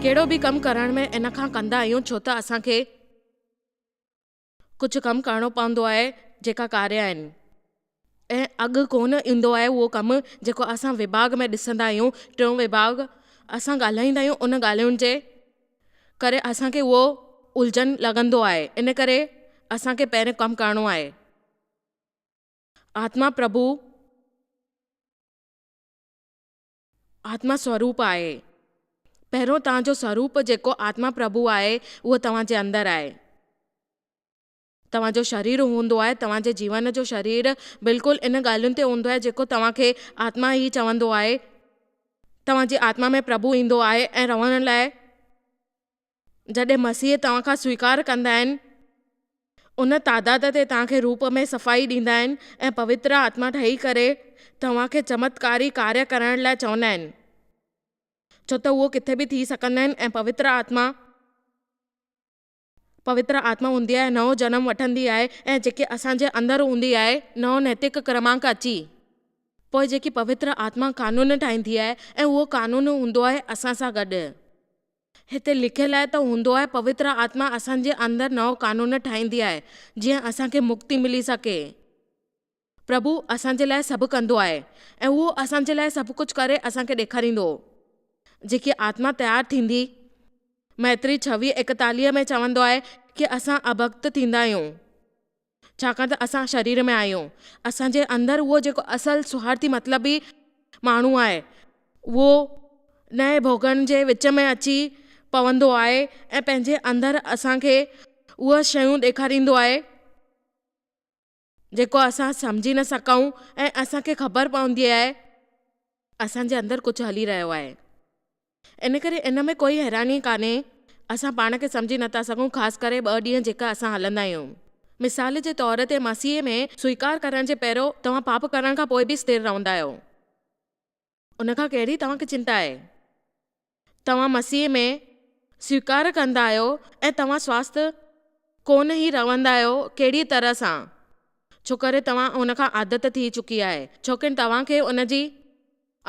ڪهڙو به ڪم ڪرڻ ۾ ان کان ڪندا آهيون ڇو ته اسان کي ڪجهه ڪم ڪرڻو پوندو آهي جيڪا ڪاري آهن ۽ اڳ ڪونه ايندو آهي اهو ڪم جيڪو اسان وڀاڳ ۾ ڏسندا آهيون ٽيون وڀاڳ اسان ڳالهائيندا آهيون ان ڳالهين جي ڪري اسان کي اهو الجهن لڳندو آهي ان ڪري اسان کي پهريون ڪم ڪرڻو آهي آتما پرڀو آتما سوروپ آهي پهريون توهان جو سوروپ جيڪو آتما پرڀو آهي اهو توهان جي اندر آهي. توهان جو شرير هوندو آهي، توهان جي جيون جو شرير بلڪل ان ڳالهين تي هوندو آهي جيڪو توهان کي آتما هي چوندو آهي. توهان جي آتما ۾ پرڀو ايندو آهي ۽ رهڻ لاء جڏهن مسيح توهان کان سويڪار ڪندا آهن ان تعداد تي توهان کي روپ ۾ صفائي ڏيندا آهن ۽ پوتر آتما ٺهي ڪري توهان کي چمتڪاري ڪاري ڪرڻ لاء چوندا آهن ڇو ته اهو ڪٿي به ٿي سگهندا آهن ۽ پوتر آتما پوتر آتما هوندي آهي، نئون جنم وٺندي آهي ۽ جيڪي اسان جي اندر هوندي آهي، نئون نيتڪ ڪرمانڪ اچي، پوء جيڪي پوتر آتما قانون ٺاهيندي آهي ۽ اهو قانون هوندو آهي اسان سان گڏ. هتي لکيل آهي ته هوندو آهي پوتر آتما اسان جي اندر نئون قانون ٺاهيندي آهي، جيئن اسان کي مڪتي ملي سگهي. پرڀو اسان جي لاء سڀ ڪندو آهي ۽ اهو اسان جي لاء سڀ ڪجهه ڪري اسان کي ڏيکاريندو هو. جيڪي آتما تيار ٿيندي، مئتري ڇويهه ايڪتاليهه ۾ چوندو آهي ڪي اسان اڀڪت ٿيندا آهيون ڇاڪاڻ ته اسان شرير ۾ آهيون اسان جي اندر اهو جيڪو اصل سوارٿي مطلبي ماڻهو آهي اهو نئين ڀوڳن جي وچ ۾ اچي پوندو آهي ۽ پنهنجي اندر اسان کي اهي شيون ڏيکاريندو آهي جيڪو اسان سمجهي نه سگهون ۽ اسان کي خبر پوندي آهي اسان جي اندر ڪجهه هلي رهيو آهي ان ڪري ان ۾ ڪوئي حيراني ڪانهي اسان پاڻ کي سمجهي نه ٿا سگهون خاص ڪري ٻه ڏينهن جيڪا اسان هلندا آهيون مثال جي طور تي مسيح ۾ سويڪار ڪرڻ جي پهريون توهان پاپ ڪرڻ کان پوء به استر رهندا آهيو. ان کان ڪهڙي توهان کي چنتا آهي؟ توهان مسيح ۾ سويڪار ڪندا آهيو ۽ توهان سواست ڪونه هي روندا آهيو ڪهڙي طرح سان ڇوڪري توهان ان کان عادت ٿي چڪي آهي ڇوڪري توهان کي ان جي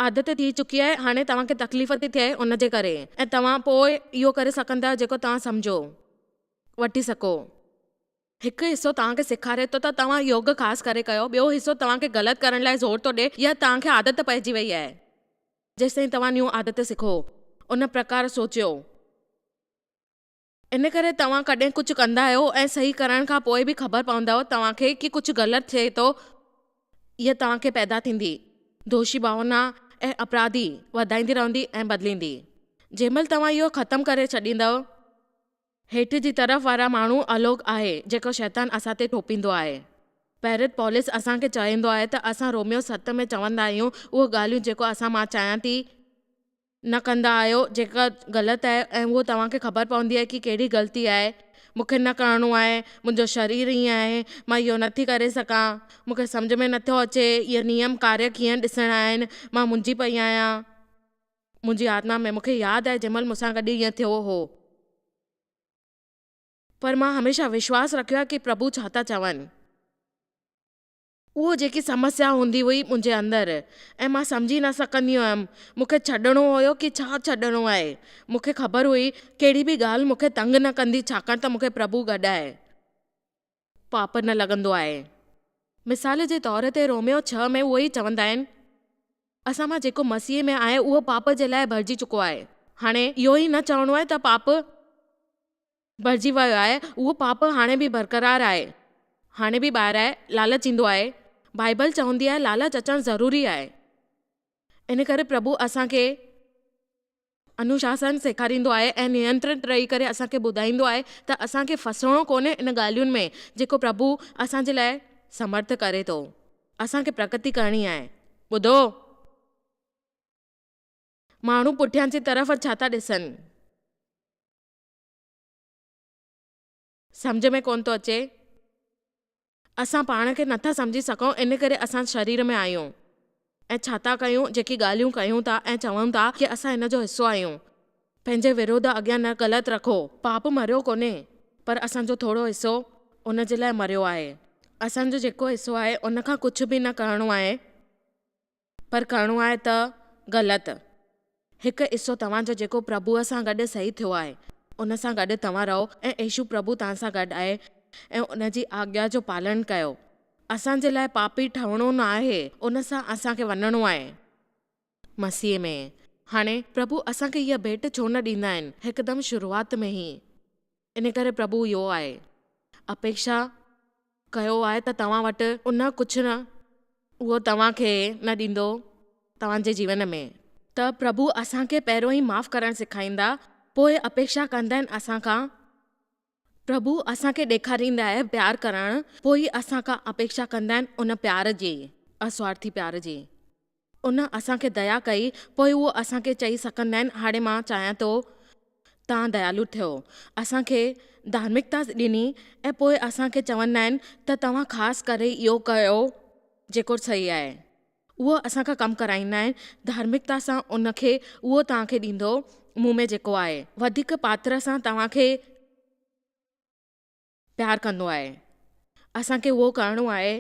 عادت ٿي چڪي آهي هاڻي توهان کي تڪليف ٿي ٿئي ان جي ڪري ۽ توهان پوء اهو ڪري سگهندا آهيو جيڪو توهان سمجهو وٺي سگهو. هڪ حصو توهان کي سيکاري ٿو ته توهان يوگ خاص ڪري ڪيو، ٻيو حصو توهان کي غلط ڪرڻ لاء زور ٿو ڏئي يا توهان کي عادت پئجي وئي آهي. جيستائين توهان نيون عادت سکو، ان پرڪار سوچيو. ان ڪري توهان ڪڏهن ڪجهه ڪندا آهيو ۽ صحيح ڪرڻ کان پوء به خبر پوندؤ توهان کي ڪي ڪجهه غلط ٿئي ٿو، اها توهان کي پيدا ٿيندي دوشي ڀاونا ۽ اپراڌي وڌائيندي رهندي ۽ بدليندي. جنهن مهل توهان اهو ختم ڪري ڇڏيندؤ. هيٺ جي طرف وارا ماڻهو الوڪ آهي جيڪو شيطان اسان تي ٿوپيندو آهي. پيرت پولس اسان کي چويندو آهي ته اسان روميو ست ۾ چوندا آهيون اهو ڳالهيون جيڪو اسان مان چيان ٿي نه ڪندا آهيو جيڪا غلط آهي ۽ اهو توهان کي خبر پوندي آهي ڪي ڪهڙي غلطي آهي مون کي نه ڪرڻو آهي منهنجو شرير ائين آهي مان اهو نه ٿي ڪري سگهان مون کي سمجهه ۾ نه ٿو اچي اهي نيم ڪاريه ڪيئن ڏسڻا آهن مان منجهي پئي آهيان. منهنجي آتما ۾، مون کي ياد آهي جنهن مهل مون سان گڏ ائين ٿيو هو. پر مان هميشه وشواس رکيو آهي ڪي پرڀو ڇا ٿا چون. اهو جيڪي سمسيا هوندي هئي منهنجي اندر ۽ مان سمجهي نه سگهندي هيم مون کي ڇڏڻو هيو ڪي ڇا ڇڏڻو آهي. مون کي خبر هئي ڪهڙي به ڳالهه مون کي تنگ نه ڪندي ڇاڪاڻ ته مون کي پرڀو گڏ آهي. پاپ نه لڳندو آهي. مثال جي طور تي روميو ڇهه ۾ اهو ئي چوندا آهن، اسان مان جيڪو مسيح ۾ آهي اهو پاپ جي لاء ڀرجي چڪو آهي. هاڻي اهو ئي نه چوڻو آهي ته پاپ ڀرجي ويو آهي، اهو پاپ هاڻي به برقرار آهي، هاڻي به ٻاهر آهي، لالچ ايندو آهي. بائيبل چوندي آهي لالچ اچڻ ضروري آهي. ان ڪري پرڀو اسان کي انوشاسن سيکاريندو آهي ۽ نينترت رهي ڪري اسان کي ٻڌائيندو آهي ته اسان کي ڦاسڻو ڪونهي ان ڳالهين ۾ جيڪو پرڀو اسان جي لاء سمرٿ ڪري ٿو. اسان کي پرڪتي ڪرڻي آهي. ٻڌو! ماڻهو پٺيان جي طرف ڇا ٿا ڏسن؟ سمجهه ۾ ڪونه ٿو اچي. اسان پاڻ کي نٿا سمجهي سگهون ان ڪري اسان شرير ۾ آهيون ۽ ڇا ٿا ڪيون، جيڪي ڳالهيون ڪيون ٿا ۽ چون ٿا ڪي اسان ان جو حصو آهيون. پنهنجي وروڌ اڳيان نه غلط رکو. پاپ مريو ڪونه پر اسان جو ٿورو حصو ان جي لاء مريو آهي. اسان جو جيڪو حصو آهي ان کان ڪجهه به نه ڪرڻو آهي. پر ڪرڻو آهي ته غلط. هڪ حصو توهان جو جيڪو پرڀوء سان گڏ صحيح ٿيو آهي، ان سان گڏ توهان رهو ۽ عيشو پرڀو توهان سان گڏ آهي ۽ ان جي آگيا جو پالڻ ڪيو. اسان جي لاء پاپي ٺهڻو نه آهي، ان سان اسان کي وڃڻو آهي. مسيح ۾. هاڻي، پرڀو اسان کي هيء ڀيٽ ڇو نه ڏيندا آهن، هڪدم شروعات ۾ ئي؟ ان ڪري پرڀو اهو آهي اپيڪشا ڪيو آهي ته توهان وٽ ان ڪجهه نه اهو توهان کي نه ڏيندو توهان جي جيون ۾ ته پرڀو اسان کي پهريون ئي معاف ڪرڻ سيکائيندا پوء اپيڪشا ڪندا آهن اسان کان پرڀو اسان کي ڏيکاريندا آهي پيار ڪرڻ پوء اسان کان اپيڪشا ڪندا آهن ان پيار جي اسوارٿي پيار جي. ان اسان کي ديا ڪئي، پوء هو اسان کي چئي سڪندين، هاڻي مان چاهيان ٿو توهان ديالو ٿيو. اسان کي ڌارمڪتا ڏني ۽ پوء اسان کي چوندا آهن ته توهان خاص ڪري اهو ڪيو جيڪو صحيح آهي. اهو اسان کان ڪم ڪرائيندا آهن، ڌارمڪتا سان ان کي اهو توهان کي ڏيندو، مون ۾ جيڪو آهي، وڌيڪ پاتر سان توهان کي. پيار ڪندو آهي اسان کي اهو ڪرڻو آهي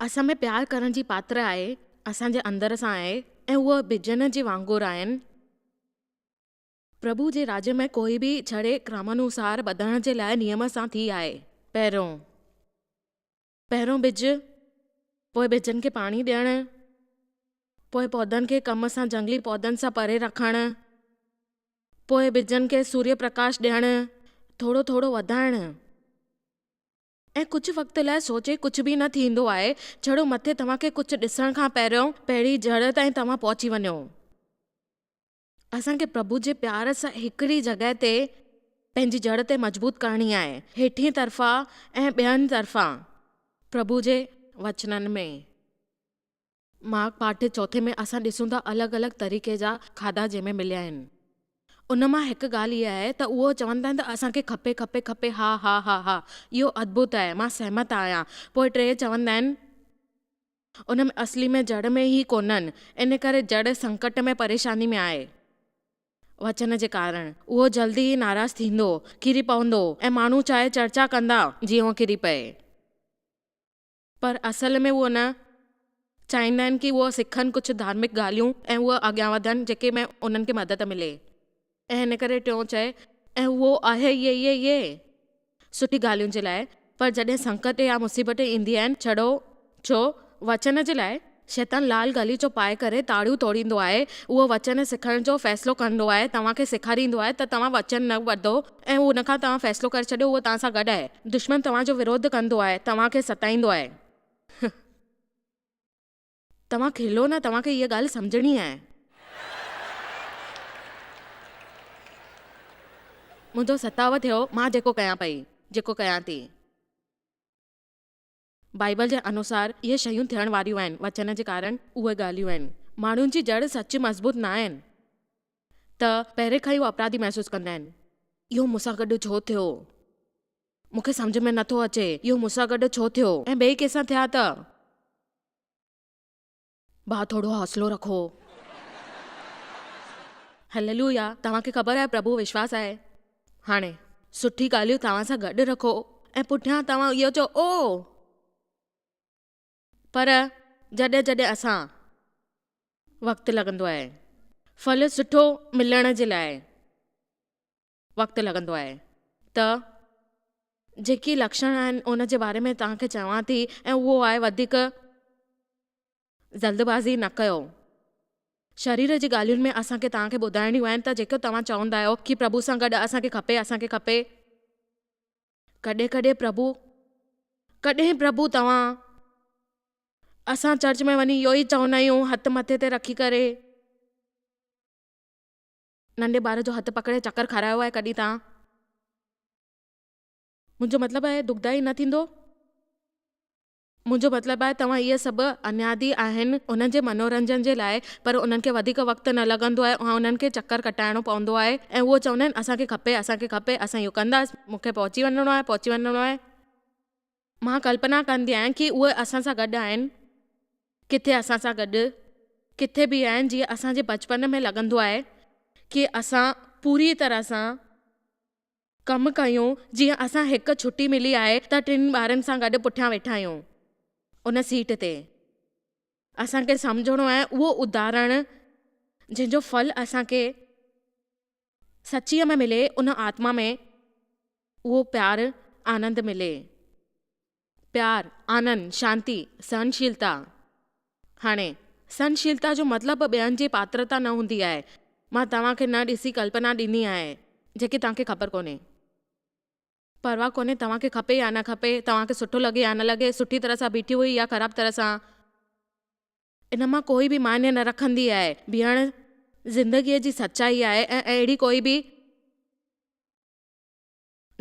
اسان ۾ پيار ڪرڻ جي پاتر آهي اسان جي اندر سان آهي ۽ اهو ٻجن جي وانگر آهن پرڀو جي راڄ ۾ ڪوئي به ڇڙي ڪرمانوسار ٻڌڻ جي لاء نيم سان ٿي آهي پهريون پهريون ٻج، پوء ٻجن کي پاڻي ڏيڻ، پوء پودن کي ڪم سان جهنگلي پودن سان پري رکڻ، پوء ٻجن کي سوريء پرڪاش ڏيڻ، ٿورو ٿورو وڌائڻ ۽ ڪجهه وقت لاء سوچي ڪجهه به نه ٿيندو آهي جهڙو مٿي توهان کي ڪجهه ڏسڻ کان پهريون پهرين جڙ تائين توهان پهچي وڃو. اسان کي پرڀو جي پيار سان هڪڙي جڳهه تي پنهنجي جڙ تي مضبوط ڪرڻي آهي، هيٺين طرفان ۽ ٻين طرفان. پرڀو جي وچنن ۾، مارڪ پاٺ چوٿين ۾ اسان ڏسون ٿا الڳ الڳ طريقي جا کاڌا جنهن ۾ مليا آهن. ان مان هڪ ڳالهه اها آهي ته اهو چون ٿا ته اسان کي کپي کپي کپي ها ها ها ها اهو اڌڀت آهي مان سهمت آهيان پوء ٽي چوندا آهن ان ۾ اصلي ۾ جڙ ۾ ئي ڪونهن، ان ڪري جڙ سنڪٽ ۾ پريشاني ۾ آهي. وچن جي ڪارڻ اهو جلدي ئي ناراض ٿيندو، ڪري پوندو ۽ ماڻهو چاهي چرچا ڪندا جيئن اهو ڪري پئي. پر اصل ۾ اهو نه چاهيندا آهن ڪي اهو سکن ڪجهه ڌارمڪ ڳالهيون ۽ اهو اڳيان وڌن جيڪي ۾ انهن کي مدد ملي. ۽ ان ڪري ٽيون چئي، ۽ اهو آهي ايئي ايئي ايئي سٺي ڳالهين جي لاء، پر جڏهن سنڪٽ يا مصيبت ايندي آهن ڇڙو ڇو وچن جي لاء، شيطان لال غليچو پائي ڪري تاڙيون توڙيندو آهي، اهو وچن سکڻ جو فيصلو ڪندو آهي، توهان کي سيکاريندو آهي ته توهان وچن نه ٻڌو ۽ ان کان توهان فيصلو ڪري ڇڏيو اهو توهان سان گڏ آهي، دشمن توهان جو وروڌ ڪندو آهي، توهان کي ستائيندو آهي. توهان کلو نه، توهان کي اها ڳالهه سمجهڻي آهي. منهنجو ستاء ٿيو، مان جيڪو ڪيان پئي، جيڪو ڪيان ٿي. بائيبل جي انوسار اهي شيون ٿيڻ واريون آهن، وچن جي ڪارڻ اهي ڳالهيون آهن. ماڻهن جي جڙ سچ مضبوط نه آهن ته پهرين کان ئي هو اپراڌي محسوس ڪندا آهن. اهو مون سان گڏ ڇو ٿيو؟ مون کي سمجهه ۾ نه ٿو اچي، اهو مون سان گڏ ڇو ٿيو ۽ ٻئي ڪنهن سان ٿيا ته؟ ڀاء ٿورو حوصلو رکو. هللويا توهان کي خبر آهي پرڀو وشواس آهي. هاڻي سٺي ڳالهيون توهان سان گڏ رکو ۽ پٺيان توهان اهو چئو او پر جڏهن جڏهن اسان وقت لڳندو آهي ڦل سٺو ملڻ جي لاء وقت لڳندو آهي ته جيڪي لڪشڻ آهن ان جي باري ۾ توهان کي چوان ٿي ۽ اهو آهي وڌيڪ جلدبازي نه ڪيو. شرير جي ڳالهين ۾ اسان کي توهان کي ٻڌائڻيون آهن ته جيڪو توهان چوندا آهيو ڪي پرڀو سان گڏ اسان کي کپي اسان کي کپي ڪڏهن ڪڏهن پرڀو ڪڏهن پرڀو توهان اسان چرچ ۾ وڃي اهو ئي چوندا آهيون هٿ مٿي تي رکي ڪري. ننڍي ٻار جو هٿ پڪڙي چڪر کارايو آهي ڪڏهن توهان؟ منهنجو مطلب آهي دکدائي نه ٿيندو؟ منهنجو مطلب آهي توهان اهي سڀ انيادي آهن انهن جي منورنجن جي لاء پر انهن کي وڌيڪ وقت نه لڳندو آهي ۽ انهن کي چڪر ڪٽائڻو پوندو آهي ۽ اهو چوندا آهن اسان کي کپي اسان کي کپي اسان اهو ڪنداس مون کي پهچي وڃڻو آهي پهچي وڃڻو آهي. مان ڪلپنا ڪندي آهيان ڪي اهي اسان سان گڏ آهن، ڪٿي اسان سان گڏ ڪٿي به آهن جيئن اسان جي بچپن ۾ لڳندو آهي ڪي اسان پوري طرح سان ڪم ڪيون جيئن اسان هڪ ڇٽي ملي آهي ته ٽن ٻارن سان گڏ پٺيان ويٺا آهيون ان سيٽ تي اسان کي سمجهڻو آهي اهو اداهرڻ جنهن جو ڦل اسان کي سچيء ۾ ملي ان آتما ۾ اهو پيار آنند ملي. پيار، آنند، شانتي، سهنشيلتا. هاڻي، سهنشيلتا جو مطلب ٻين جي پاترتا نه هوندي آهي. مان توهان کي نه ڏسي ڪلپنا ڏني آهي، جيڪي توهان کي خبر ڪونهي. پرواهه ڪونهي توهان کي کپي يا نه کپي، توهان کي سٺو لڳي يا نه لڳي، سٺي طرح سان بيٺي هئي يا خراب طرح سان. ان مان ڪوئي به معني نه رکندي آهي. بيهڻ زندگيء جي سچائي آهي ۽ اهڙي ڪوئي به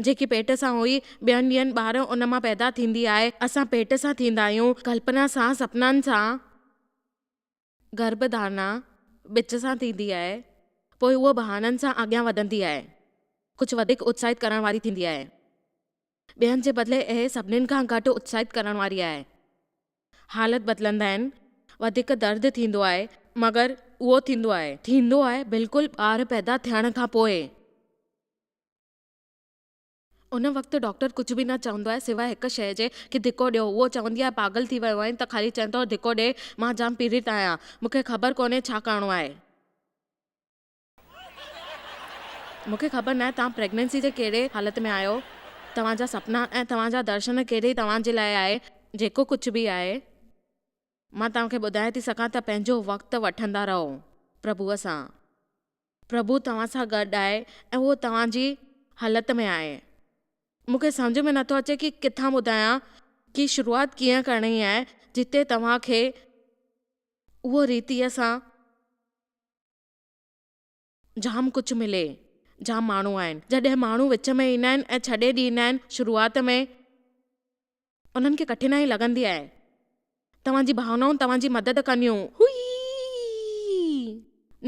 جيڪي پيٽ سان هئي، ٻين ڏينهن ٻاهر ان مان پيدا ٿيندي آهي. اسان پيٽ سان ٿيندا آهيون، ڪلپنا سان، سپنن سان، گرڀ ڌارنا ٻچ سان ٿيندي آهي، پوء هوء بهانن سان اڳيان وڌندي آهي، ڪجهه وڌيڪ اتساهت ڪرڻ واري ٿيندي آهي. ٻين جي بدلي اهي سڀنين کان گهٽ اتساهت ڪرڻ واري آهي. حالت بدلندا آهن، وڌيڪ درد ٿيندو آهي، مگر اهو ٿيندو آهي. ٿيندو آهي بلڪل ٻار پيدا ٿيڻ کان پوء. ان وقت ڊاڪٽر ڪجهه به نه چوندو آهي سواء هڪ شيء جي ڪي ڌڪو ڏيو. اهو چوندي آهيان پاڳل ٿي ويو آهين ته خالي چئين ٿو ڌڪو ڏي، مان جام پيڙت آهيان. مون کي خبر ڪونهي ڇا ڪرڻو آهي. مون کي خبر ناهي توهان پريگنينسي جي ڪهڙي حالت ۾ آهيو، توهان جا سپنا ۽ توهان جا درشن ڪهڙي توهان جي لاء آهي، جيڪو ڪجهه به آهي، مان توهان کي ٻڌائي ٿي سگهان ته پنهنجو وقت وٺندا رهو پرڀوء سان، پرڀو توهان سان گڏ آهي ۽ اهو توهان جي حالت ۾ آهي. مون کي سمجهه ۾ نٿو اچي ڪي ڪٿان ٻڌايان ڪي شروعات ڪيئن ڪرڻي آهي جتي توهان کي اهو ريتيء سان جام ڪجهه ملي. جام ماڻهو آهن. جڏهن ماڻهو وچ ۾ ايندا آهن ۽ ڇڏي ڏيندا آهن شروعات ۾ انهن کي ڪٺنائي لڳندي آهي. توهان جي ڀاونائون توهان جي مدد ڪنديون. هئي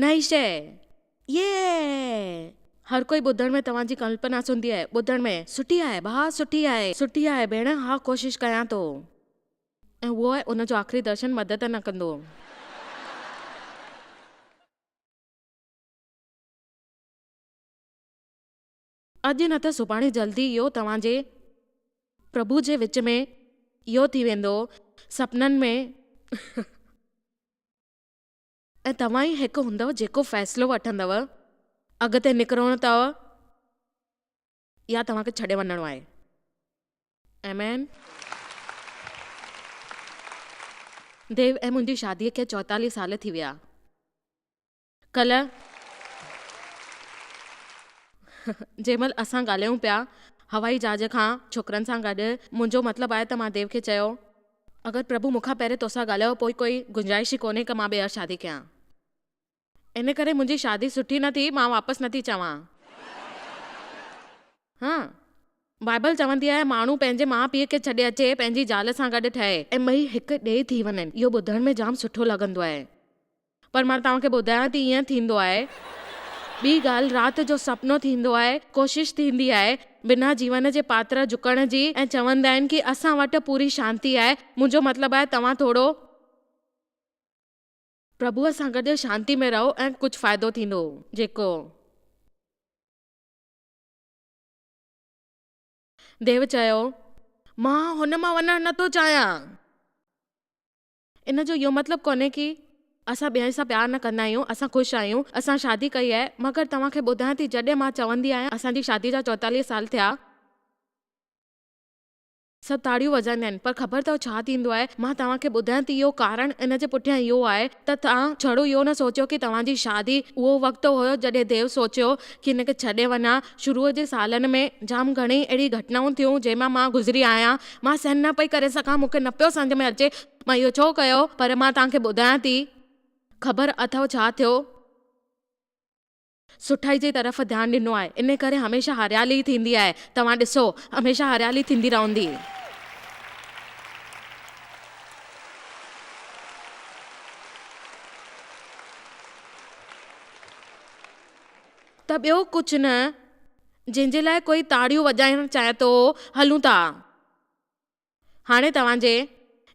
نه هي شيء. يئه. هر ڪوئي ٻڌڻ ۾ توهان جي ڪلپنا سوندي آهي. ٻڌڻ ۾. سٺي آهي ڀاء سٺي آهي. سٺي آهي ڀيڻ ها ڪوشش ڪيان ٿو. ۽ اهو آهي ان جو آخري درشن مدد نه ڪندو هو. اڄ نه ته سڀاڻي جلدي اهو توهان جي پرڀو جي وچ ۾ اهو ٿي ويندو سپنن ۾. ۽ توهان ئي هڪ هوندؤ جيڪو فيصلو وٺندؤ اڳتي نڪرڻو اٿئو. يا توهان کي ڇڏي وڃڻو آهي. آمين. ديو ۽ منهنجي شاديء کي چوئيتاليهه سال ٿي ويا. ڪلهه جنهن مهل اسان ڳالهايون پيا هوائي جهاز کان ڇوڪرن سان گڏ، منهنجو مطلب آهي ته مان ديو کي چيو، اگر پرڀو مون کان پهرين توسان ڳالهايو پوء ڪوئي گنجائش ئي ڪونهي ڪه مان ٻيهر شادي ڪيان. ان ڪري منهنجي شادي سٺي نه ٿي، مان واپس نه ٿي چوان. ها! بائيبل چوندي آهي، ماڻهو پنهنجي ماء پيء کي ڇڏي اچي، پنهنجي زال سان گڏ ٺهي ۽ ٻئي هڪ ڏيهي ٿي وڃن. اهو ٻڌڻ ۾ جام سٺو لڳندو آهي. پر مان توهان کي ٻڌايان ٿي ائين ٿيندو آهي. ٻي ڳالهه، رات جو سپنو ٿيندو آهي، ڪوشش ٿيندي آهي، بنا جيون جي پاتر جهڪڻ جي ۽ چوندا آهن ڪي اسان وٽ پوري شانتي آهي، منهنجو مطلب آهي توهان ٿورو. پرڀوء سان گڏ شانتي ۾ رهو ۽ ڪجهه فائدو ٿيندو، جيڪو. ديو چيو، مان هن مان وڃڻ نه ٿو چاهيان. ان جو اهو مطلب ڪونهي ڪي اسان ٻين سان پيار نه ڪندا آهيون، اسان خوش آهيون، اسان شادي ڪئي آهي، مگر توهان کي ٻڌايان ٿي جڏهن مان چوندي آهيان اسان جي شادي جا چوتاليهه سال ٿيا، سڀ تاڙيون وڄائيندا آهن، پر خبر اٿئو ڇا ٿيندو آهي؟ مان توهان کي ٻڌايان ته اهو ڪارڻ ان جي پٺيان اهو آهي ته توهان ڇڙو اهو نه سوچيو ڪي توهان جي شادي اهو وقت هيو جڏهن ديو سوچيو ڪي هن کي ڇڏي وڃان. شروع جي سالن ۾ جام گهڻيئي اهڙي گهٽنائون ٿيون جنهن مان مان گذري آهيان. مان سهن نه پئي ڪري سگهان، مون کي نه پيو سمجهه ۾ اچي مان اهو ڇو ڪيو، پر مان توهان کي ٻڌايان ٿي. خبر اٿئو ڇا ٿيو؟ سٺائي جي طرف ڌيان ڏنو آهي ان ڪري هميشه هاريالي ئي ٿيندي آهي توهان ڏسو هميشه هاريالي ٿيندي رهندي. ته ٻيو ڪجهه نه جنهن جي لاء ڪوئي تاڙيون وڄائڻ چاهي ٿو هلون ٿا. هاڻي توهان جي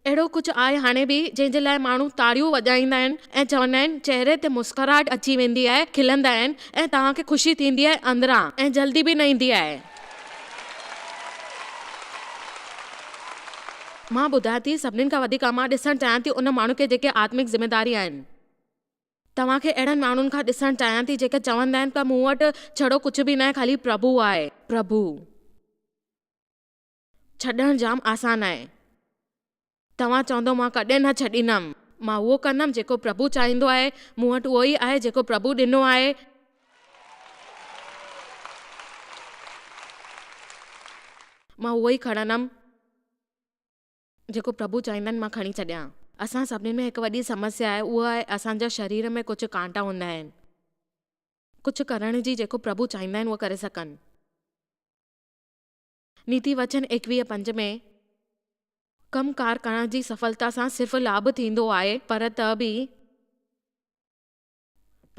اهڙو ڪجهه آهي هاڻي به جنهن جي لاء ماڻهو تاڙيون وڄائيندا آهن ۽ چوندا آهن چهري تي مسڪراهٽ اچي ويندي آهي کلندا آهن ۽ توهان کي خوشي ٿيندي آهي اندران ۽ جلدي به نه ايندي آهي. مان ٻڌان ٿي سڀني کان وڌيڪ مان ڏسڻ چاهيان ٿي ان ماڻهن کي جيڪي آتمڪ ذميداري آهن. توهان کي اهڙن ماڻهن کان ڏسڻ چاهيان ٿي جيڪي چوندا آهن ته مون وٽ ڇڙو ڪجهه به ناهي خالي پرڀو آهي پرڀو. ڇڏڻ جام آسان آهي. توهان چوندؤ مان ڪڏهن نه ڇڏيندم. مان اهو ڪندم جيڪو پرڀو چاهيندو آهي. مون وٽ اهو ئي آهي جيڪو پرڀو ڏنو آهي. مان اهو ئي کڻندم جيڪو پرڀو چاهيندن مان کڻي ڇڏيان. اسان سڀني ۾ هڪ وڏي سمسيا آهي اهو آهي اسان جا شرير ۾ ڪجهه ڪانٽا هوندا آهن ڪجهه ڪرڻ جي جيڪو پرڀو چاهيندا آهن اهو ڪري سگهن. نيتي وچن ايڪويهه پنج ۾ ڪم ڪار ڪرڻ جي سڦلتا سان صرف لاڀ ٿيندو آهي پر ته به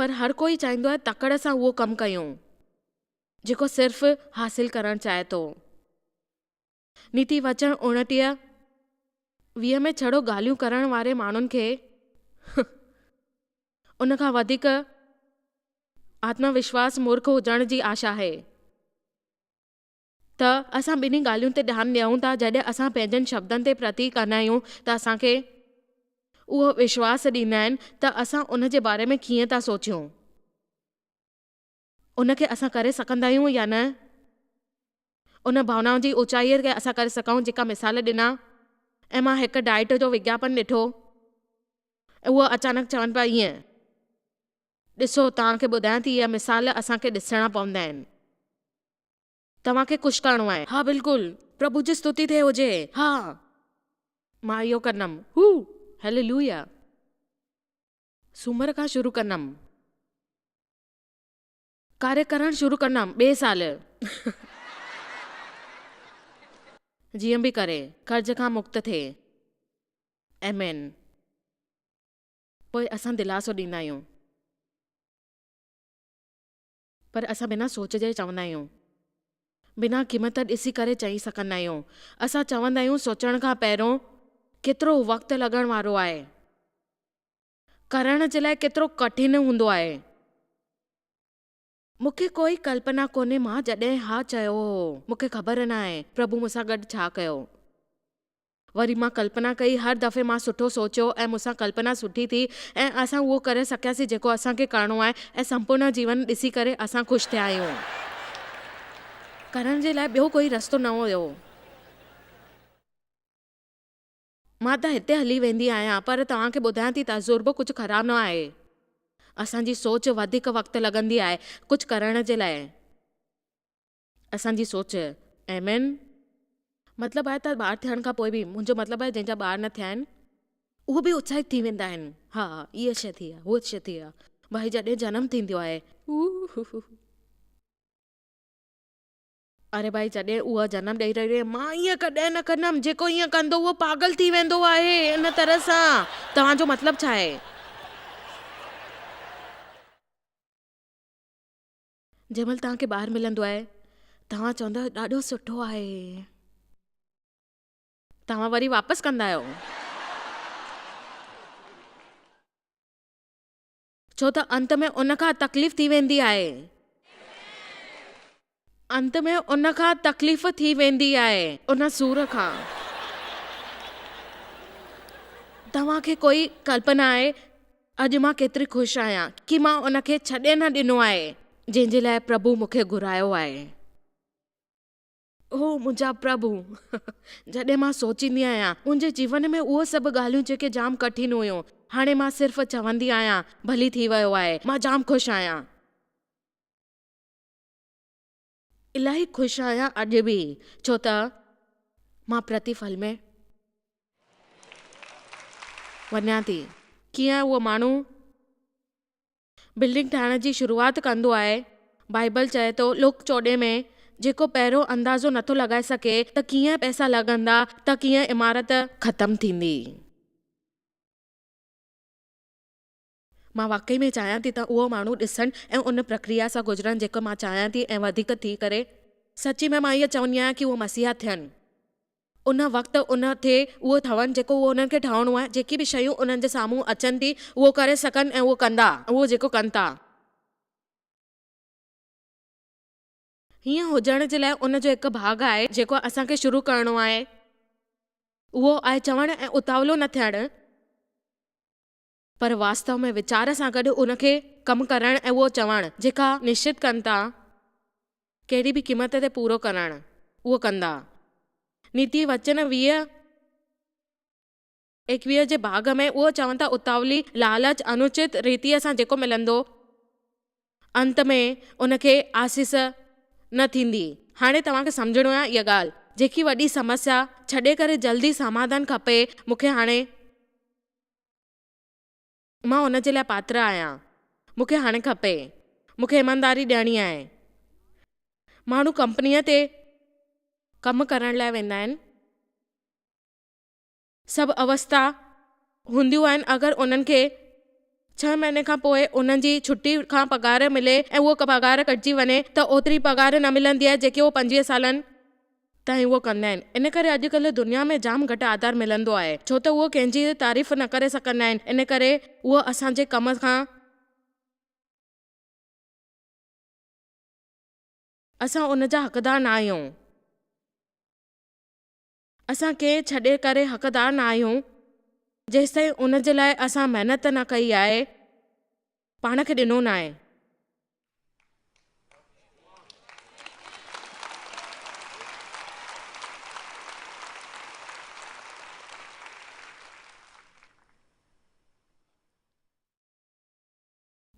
پر هر ڪوئي چاهيندو آهي تڪڙ سان اهو ڪم ڪيون جيڪو صرف حاصل ڪرڻ چاهي ٿو. نيتي وچن اوڻٽيهه ويهه ۾ ڇڙو ڳالهيون ڪرڻ واري ماڻهن کي ان کان وڌيڪ آتم وشواس مورک هجڻ جي آش آهي. ته اسان ٻنهي ڳالهين تي ڌيان ڏيون ٿا، جڏهن اسان پنهنجن شبدن تي پرتي ڪندا آهيون ته اسان کي اهو وشواس ڏيندا آهن ته اسان ان جي باري ۾ ڪيئن ٿا سوچيون، ان کي اسان ڪري سگهندا آهيون يا نه، ان ڀاونائن جي اوچائيء کي اسان ڪري سگهون جيڪا مثال ڏنا ۽ مان هڪ ڊائيٽ جو وگياپن ڏٺو ۽ هو اچانڪ چون پيا ايئن ڏسو توهان کي ٻڌايان ٿي اهي مثال اسان کي ڏسڻا پوندا آهن. توهان کي خوش ڪرڻو آهي. ها بلڪل. پرڀو جي ستوتي ٿئي هجي. ها مان اهو ڪندم. هو هيليلويا. سومر کان شروع ڪندم. ڪاري ڪرڻ شروع ڪندم ٻئي سال. جيئن به ڪري قرض کان مڪت ٿئي. آمين. پوء اسان دلاسو ڏيندا آهيون. پر اسان بنا سوچ جي چوندا آهيون. بنا قيمت ڏسي ڪري چئي سگهندا آهيون. اسان چوندا آهيون سوچڻ کان پهريون ڪيترو وقت لڳڻ وارو آهي. ڪرڻ جي لاء ڪيترو ڪٺن هوندو آهي. مون کي ڪوئي ڪلپنا ڪونهي مان جڏهن ها چيو هو. مون کي خبر ناهي پرڀو مون سان گڏ ڇا ڪيو. وري مان ڪلپنا ڪئي. هر دفعي مان سٺو سوچيو ۽ مون سان ڪلپنا سٺي ٿي ۽ اسان اهو ڪري سگهياسين جيڪو اسان کي ڪرڻو آهي ۽ سمپورنا جيون ڏسي ڪري اسان خوش ٿيا آهيون. ڪرڻ جي لاء ٻيو ڪوئي رستو نه هيو. مان ته هتي هلي ويندي آهيان پر توهان کي ٻڌايان ٿي تجربو ڪجهه خراب نه آهي. اسان جي سوچ وڌيڪ وقت لڳندي آهي ڪجهه ڪرڻ جي لاء. اسان جي سوچ ايم اين مطلب آهي ته ٻار ٿيڻ کان پوء به منهنجو مطلب آهي جنهن جا ٻار نه ٿيا آهن اهي به اتساهت ٿي ويندا آهن ها هيء شيء ٿي آهي هوء شيء ٿي آهي ڀائي جڏهن جنم ٿيندو آهي اري ڀائي جڏهن اها جنم ڏئي رهي آهي مان ايئن ڪڏهن نه ڪندم جيڪو ايئن ڪندو اهو پاگل ٿي ويندو آهي ان طرح سان توهان جو مطلب ڇا آهي جنهن مهل توهان کي ٻار ملندو آهي، توهان چوندؤ ڏاڍو سٺو آهي. توهان وري واپس ڪندا آهيو. ڇو ته انت ۾ ان کان تڪليف ٿي ويندي آهي. انت ۾ ان کان تڪليف ٿي ويندي آهي. ان سور کان توهان کي ڪوئي ڪلپنا آهي اڄ مان ڪيتري خوش آهيان ڪي مان ان کي ڇڏي نه ڏنو آهي جنهن جي لاء پرڀو مون کي گهرايو آهي. اوه منهنجا پرڀو جڏهن مان سوچيندي آهيان منهنجي جيون ۾ اهي سڀ ڳالهيون جيڪي جام ڪٺين هيون هاڻي مان صرف چوندي آهيان ڀلي ٿي ويو آهي مان جام خوش آهيان. الاهي خوش آهيان اڄ به ڇو ته مان پرتيفل ۾ وڃان ٿي. ڪيئن اهو ماڻهو بلڊنگ ٺاهڻ جي شروعات ڪندو آهي، بائيبل چئي ٿو لوڪ چوڏهين ۾ جيڪو پهريون اندازو نٿو لڳائي سگهي ته ڪيئن پئسا لڳندا ته ڪيئن عمارت ختم ٿيندي. مان واقعي ۾ چاهيان ٿي ته اهو ماڻهو ڏسن ۽ ان پرڪريا سان گذرن جيڪو مان چاهيان ٿي ۽ وڌيڪ ٿي ڪري. سچي ۾ مان اهو چوندي آهيان ڪي اهي مسيحا ٿين. ان وقت ان ٿي اهو ٺهن جيڪو اهو انهن کي ٺهڻو آهي. جيڪي به شيون انهن جي سامهون اچن ٿي اهو ڪري سگهن ۽ اهو ڪندا اهو جيڪو ڪن ٿا. هيئن هجڻ جي لاء ان جو هڪ ڀاڳ آهي جيڪو اسان کي شروع ڪرڻو آهي اهو آهي چوڻ ۽ اتاولو نه ٿيڻ. پر واستو ۾ ويچار سان گڏ ان کي ڪم ڪرڻ ۽ اهو چوڻ جيڪا نشچت ڪن ٿا ڪهڙي به قيمت تي پورو ڪرڻ اهو ڪندا. نيتي وچن ويهه ايڪويهه جي ڀاڳ ۾ اهو چون ٿا اتاولي لالچ انوچت ريتيء سان جيڪو ملندو انت ۾ ان کي آسيس نه ٿيندي. هاڻي توهان کي سمجهڻو آهي اها ڳالهه جيڪي وڏي سمسيا ڇڏي ڪري جلدي سماڌان کپي مون کي هاڻي. مان ان جي لاء پاتر آهيان. مون کي هاڻي کپي. مون کي ايمانداري ڏيڻي آهي. ماڻهو ڪمپنيء تي ڪم ڪرڻ لاء ويندا آهن. سڀ اوستا هونديون آهن. اگر انهن کي ڇهه مهيني کان پوء انهن جي ڇٽي کان پگهار ملي ۽ اها پگهار ڪٽجي وڃي ته اوتري پگهار نه ملندي آهي جيڪي هو پنجويهه سالن تائين اهو ڪندا آهن ان ڪري اڄ ڪلهه دنيا ۾ جام گهٽ آڌار ملندو آهي ڇو ته اهو ڪنهن جي تعريف نه ڪري سگهندا آهن ان ڪري اهو اسان جي ڪم کان اسان ان جا حقدار نه آهيون اسان ڪنهن ڇڏي ڪري حقدار نه آهيون جيستائين ان جي لاء اسان محنت نه ڪئي آهي. پاڻ کي ڏنو ناهي.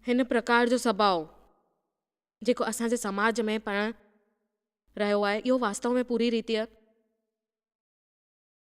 هن پرڪار جو سڀاء جيڪو اسان جي سماج ۾ پڻ رهيو آهي اهو واستو ۾ پوري ريتيء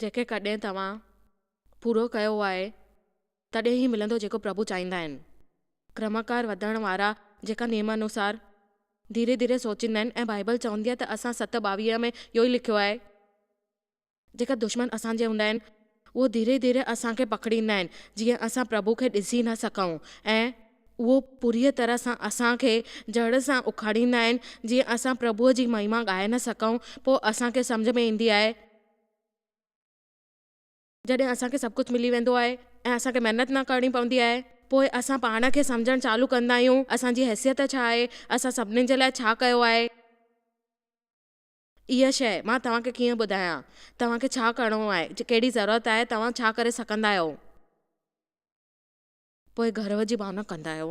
جيڪي ڪڏهن توهان پورو ڪيو آهي تڏهن ئي ملندو جيڪو پرڀو چاهيندا آهن. ڪرماڪار وڌڻ وارا جيڪا نيم انوسار ڌيري ڌيري سوچيندا آهن ۽ بائيبل چوندي آهي ته اسان ست ٻاويهه ۾ اهو ئي لکيو آهي جيڪا دشمن اسان جي هوندا آهن اهو ڌيري ڌيري اسان کي پکڙيندا آهن جيئن اسان پرڀو کي ڏسي نه سگهون ۽ اهو پوريء طرح سان اسان کي جڙ سان اکاڙيندا آهن جيئن اسان پرڀوء جي مهما ڳائي نه سگهون پوء اسان کي سمجهه ۾ ايندي آهي جڏهن اسان کي سڀ ڪجهه ملي ويندو آهي ۽ اسان کي محنت نه ڪرڻي پوندي آهي، پوء اسان پاڻ کي سمجهڻ چالو ڪندا آهيون، اسان جي حيثيت ڇا آهي، اسان سڀني جي لاء ڇا ڪيو آهي. اها شيء، مان توهان کي ڪيئن ٻڌايان، توهان کي ڇا ڪرڻو آهي، ڪهڙي ضرورت آهي، توهان ڇا ڪري سگهندا آهيو. پوء گرو جي ڀاونا ڪندا آهيو.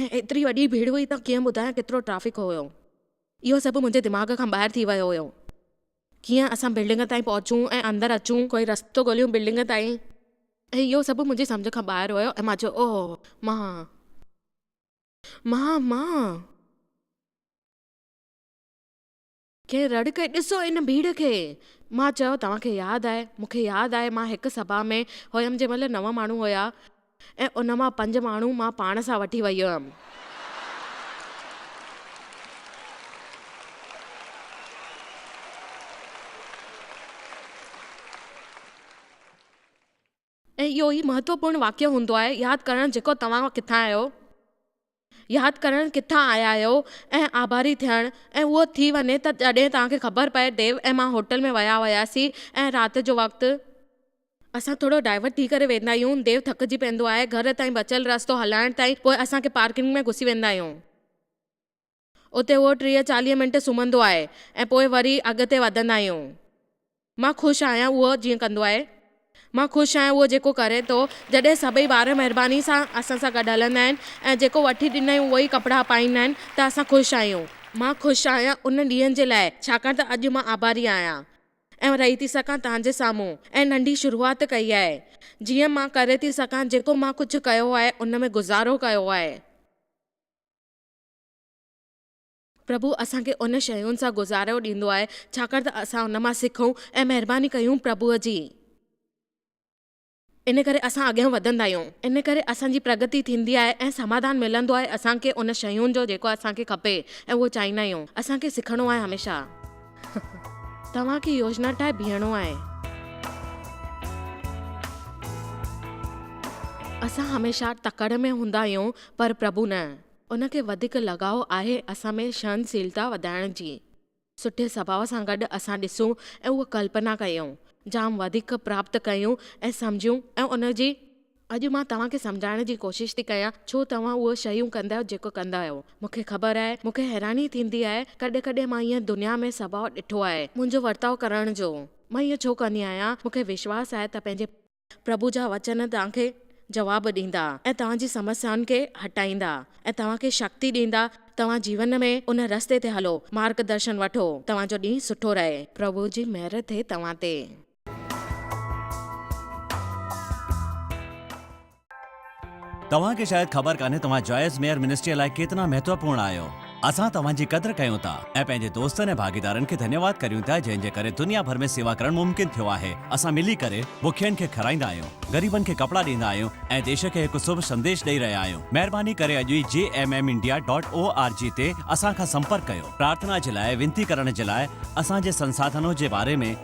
۽ ايتري وڏي ڀيڙ هئي ته ڪيئن ٻڌايان ڪيترو ٽرئفڪ هيو. اهو سڀ منهنجي دماغ کان ٻاهر ٿي ويو هيو. ڪيئن اسان بلڊنگ تائين پهچون ۽ اندر اچون. ڪوئي رستو ڳوليون بلڊنگ تائين. اهو سڀ منهنجي سمجهه کان ٻاهر هيو ۽ مان چيو اوه مان مان مان. کي رڙ ڪئي، ڏسو ان ڀيڙ کي! مان چيو، توهان کي ياد آهي؟ مون کي ياد آهي مان هڪ سڀا ۾ هيم جنهن مهل نو ماڻهو هيا ۽ ان مان پنج ماڻهو مان پاڻ سان وٺي ويئي هيم. ۽ اهو ئي مهتوپورن واقعو هوندو آهي ياد ڪرڻ جيڪو توهان ڪٿان آهيو، ياد ڪرڻ ڪٿان آيا آهيو ۽ آڀاري ٿيڻ ۽ اهو ٿي وڃي ته جڏهن توهان کي خبر پئي ديو ۽ مان هوٽل ۾ ويا هياسين ۽ رات جو وقت اسان ٿورو ڊائيورٽ ٿي ڪري ويندا آهيون ديو ٿڪجي پوندو آهي گهر تائين بچيل رستو هلائڻ تائين پوء اسان کي پارڪنگ ۾ گهسي ويندا آهيون. اتي اهو ٽيهه چاليهه منٽ سمهندو آهي ۽ پوء وري اڳتي وڌندا آهيون. مان خوش آهيان اهو جيئن ڪندو آهي. مان خوش آهيان اهو جيڪو ڪري ٿو. جڏهن سڀئي ٻار مهرباني سان اسان سان گڏ هلندا آهن ۽ جيڪو وٺي ڏنائين اهو ئي ڪپڙا پائيندا آهن ته اسان خوش آهيون. مان خوش آهيان انهن ڏينهن جي لاء ڇاڪاڻ ته اڄ مان آڀاري آهيان ۽ رهي ٿي سگهان توهان جي سامهون ۽ ننڍي شروعات ڪئي آهي جيئن مان ڪري ٿي سگهان جيڪو مان ڪجهه ڪيو آهي ان ۾ گذارو ڪيو آهي. پرڀو اسان کي ان شين سان گذارو ڏيندو آهي ڇاڪاڻ ته اسان ان مان سکون ۽ مهرباني ڪيون پرڀو جي ان ڪري اسان اڳيان وڌندا آهيون ان ڪري اسان جي پرگتي ٿيندي آهي ۽ سماڌان ملندو آهي اسان کي ان شين جو جيڪو اسان کي کپي ۽ اهو چاهيندا آهيون اسان کي سکڻو آهي هميشه توهان کي يوجنا ٺاهي بيهڻو آهي اسان هميشه تڪڙ ۾ هوندا آهيون پر پرڀو نه. ان کي وڌيڪ لڳاء آهي اسان ۾ سهنشيلتا وڌائڻ جي. سٺي سڀاء سان گڏ اسان ڏسون ۽ اها ڪلپنا ڪيون، جام وڌيڪ پراپت ڪيون ۽ سمجهيون ۽ ان جي. اڄ مان توهان کي سمجهائڻ جي ڪوشش ٿي ڪيان ڇو توهان اهي شيون ڪندا جيڪو ڪندا آهيو. مون کي خبر آهي، مون کي حيراني ٿيندي آهي، ڪڏهن ڪڏهن مان ايئن دنيا ۾ سڀاء ڏٺو آهي، منهنجو ورتاء ڪرڻ جو. مان ايئن ڇو ڪندي آهيان، مون کي وشواس آهي ته پنهنجي. پرڀو جا وچن توهان کي جواب ڏيندا ۽ توهان جي سمسيائن کي هٽائيندا ۽ توهان کي شڪتي ڏيندا. توهان جيون ۾ ان رستي تي هلو، مارگ درشن وٺو. توهان جو ڏينهن سٺو رهي. پرڀو جي مهر ٿئي توهان تي. توهان کي شايد خبر ڪانهي توهان جائز ميئر منسٽريء لاء ڪيتنا مهتوپورڻ آهيو. اسان توهان جي قدر ڪيون ٿا ۽ پنهنجي دوستن ۽ ڀاڳيدارن کي ڌنيواد ڪريون ٿا جنهن جي ڪري دنيا ڀر ۾ سيوا ڪرڻ ممڪن ٿيو آهي. اسان ملي ڪري بکين کي کارائيندا آهيون، غريبن کي ڪپڙا ڏيندا آهيون ۽ ديش کي هڪ سڀ سنديش ڏئي رهيا آهيون. مهرباني ڪري اڄ ئي G M M India dot O R G تي اسان کان سمپرڪ ڪيو. پرارٿنا جي لاء، وينتي ڪرڻ جي لاء، اسان جي سنساڌنون جي باري ۾،